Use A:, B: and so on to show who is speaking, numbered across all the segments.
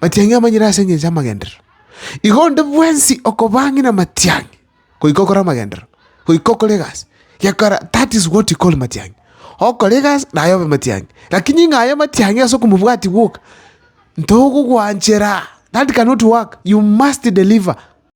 A: Matiang'i amanyire ase engencho y'amagenderero. Igo onde bwensi okobang'ina matiang'i, goika okore amagenderero, goika okore egasi, gekora that is what you call matiang'i. Okore egasi naye obe matiang'i. Lakini ng'a aye matiang'i ase okomobwati gwoka, ntogogwanchera, that cannot work, you must deliver.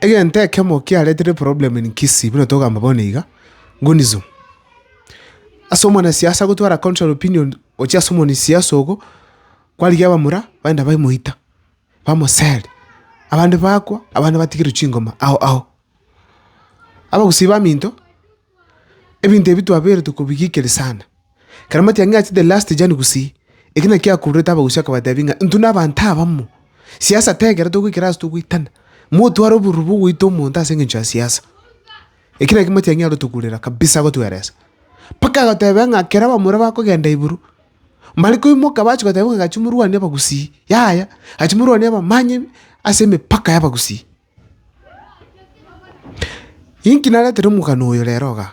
A: Egento ekemo kiaretire problem in Kisii buna togamba bono iga, Gunizo. Ase omwanasiasa gotwara contrary opinion gochia ase omwanasiasa ogo, kwarigia abamura baenda baimoita, bamoseri, abande bakwa, abande batigerwa chingoma ao ao. Abagusii baminto. Ebinto ebi twabeirete kobigikeria sana. Ekero amatiang'i achete last Jan gusii, eki nakio akururete abagusii akabatebia ng'a intwe nabanto abamo, siasa tegera togoikera ase togoitana, motware oboruru bw'ogoita omonto ase engencho ya siasa. Eki nakio Matiang'i arotogurera kabisa agotweresa. Mpaka agoteba ng'a ekero abamura bakogenda igoro, mbare koimoka bache goteba ng'a gachia morwanie abagusii, yaya, gachia morwanie abamanyinyi ase emepaka y'abagusii. Inki naretire omogano oyo rero iga?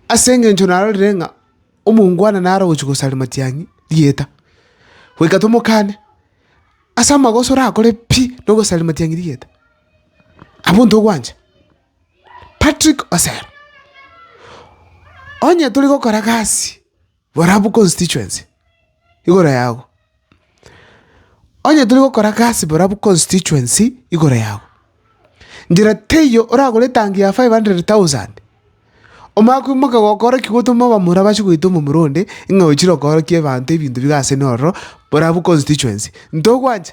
A: Ase engencho narorire ng'a omongwana nare ogochia gosaria matiang'i rieta, goika tomokane. Ase amagoso orakore pi nogosaria matiang'i rieta? Abwo ntogwancha? Patrick Osero, onye tori gokora gasi. Barabwo constituency igoro yago. Onye tiri gokora gasi barabwo constituency igoro yago, nchera teiyo oragore etangi ya five hundred thousand, omanye koimoka gokoorokia gotoma abamura bache goita omomura onde, ng'a ochire okoorokia abanto ebinto biga asene ororo, barabwo constituency. Ntogwancha?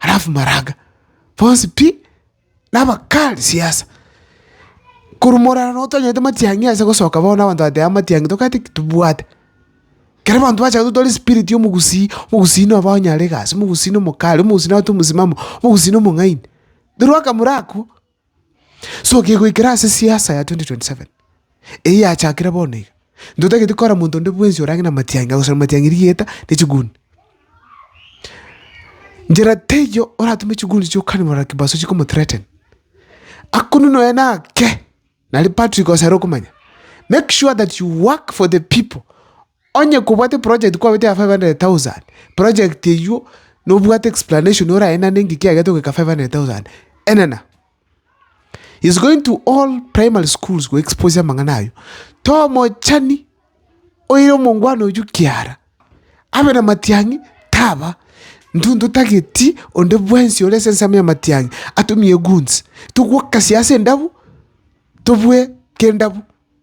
A: Alafu maraga bonsi pi, nabakali siasa. Korwa morara noo twanyete matiang'i ase gosoka bono na abanto bateba matiang'i tokaete ki? Tobwate. Kero abanto bachaka totware spirit ya omogusii, omogusii noba onye are egasi, omogusii nomokali, omogusii nabate omosimamo, omogusii nomong'aini. Toroaka morakwo. So kegoikera ase siasa ya 2027, eyio yachakire bono iga, ntotageti kora monto onde bwensi orage namatiangi, agosera matiangi rigeta ne chiguni. Nchera teiyo oratome chiguni chiokane morero kibaso chikomo threaten. Akunini oye nake, nari Patrick Osero okomanya. Make sure that you work for the people. Onye kobwate project kwabete ya 500,000, project eywo nobwate explanation oraenane ng'iki yagete goika 500,000, enena. He's going to all primary schools go expose amang'ana aywo. Tomochani oire omongwana oywo kiara, abe na matiang'i taba, intwe ntotageti onde bwensi ore ase ensemo ya matiang'i atumie goons, togwokasie ase endabu, tobue k'endabu.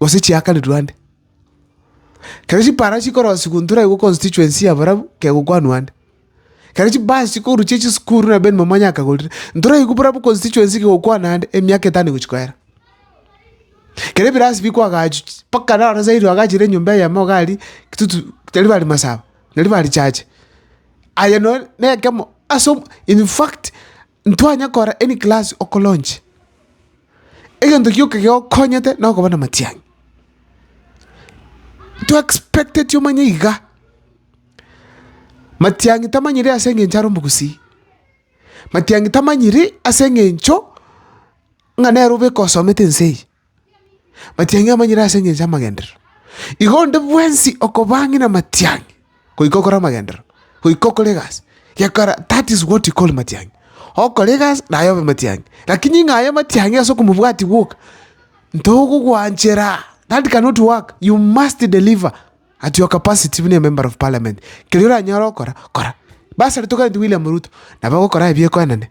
A: gose chiakarirwe ande. Kero chipaara chikorosigwa intwe naigo constituency ya barabwo kegokwanwa ande. Kero chibasi chikorwa chie chisukuru na Ben Momonya akagorire, intwe naigo barabwo constituency kegokwana ande emiaka etano egochia koera. Kero ebirasi bikwa agachu chi mpaka naro osairi oagachire enyomba eyemo iga aria kitutu tari bari masaba, tari bari chache. Aye nonye na ekemo ase omo in fact. Ntwanya kora any class okoronche. Egento gioka geokonyete nokoba na matiang'i. To expecteti omanye iga. Matiang'i tamanyiri ase engencho are omogusii. Matiang'i tamanyiri ase engencho ng'a nere obe ekosomete ense eye. Matiang'i amanyire ase engencho y'amagenderero. Igo onde bwensi okobang'ina amatiang'i, goika okore amagenderero, goika okore egasi, gekora that is what you call matiang'i. Okore egasi naye obe matiang'i. Lakini ng'a aye matiang'i ase okomobwati gwoka, ntogogwanchera, that cannot work, you must deliver at your capacity buna emember of parliament. Keria oranyare okora, kora. Basarete oganie William Ruto, nabo agokora aye biakoenene.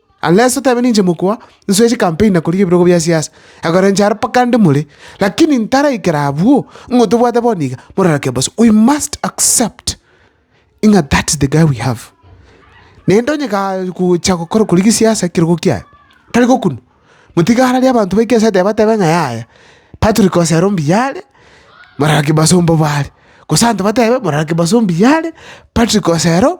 A: Unless otebe ninche mokoa, nsoe chicampaign na korigia ebirogo bia siasa, ekero inche aro mpaka ande more, lakini ntaraikera abwo, ng'o tobwate bono iga, mororeke bosi, we must accept ng'a that is the guy we have. Naende onye kaa gocha gokora korigia siasa ekerogo kiaye, tari gokunwa, motiga ararie abanto baike ase etebe batebe ng'a yaya, Patrick Osero mbuya are, morero kibaso mbobe are, gose abanto batebe morero kibaso mbuya are, Patrick Osero.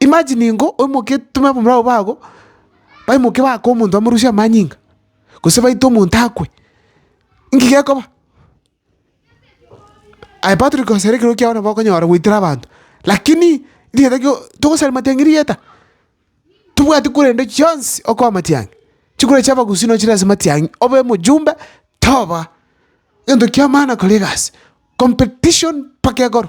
A: Imagine ingo oimoke otome abamura abwo bago, baimoke baake omonto bamorusie amanyinga, gose baite omonto akwe, inki gekoba? Aye Patrick gose ekero kiao nabo okonyora goitera abanto, lakini rigeta kio togosaria matiang'i rigeta, tobwate korende chionsi okoa matiang'i, chikura chia abagusii nochire ase matiang'i obe omojumbe toba, egento kiamana kora egasi, competition mpaka ekoro.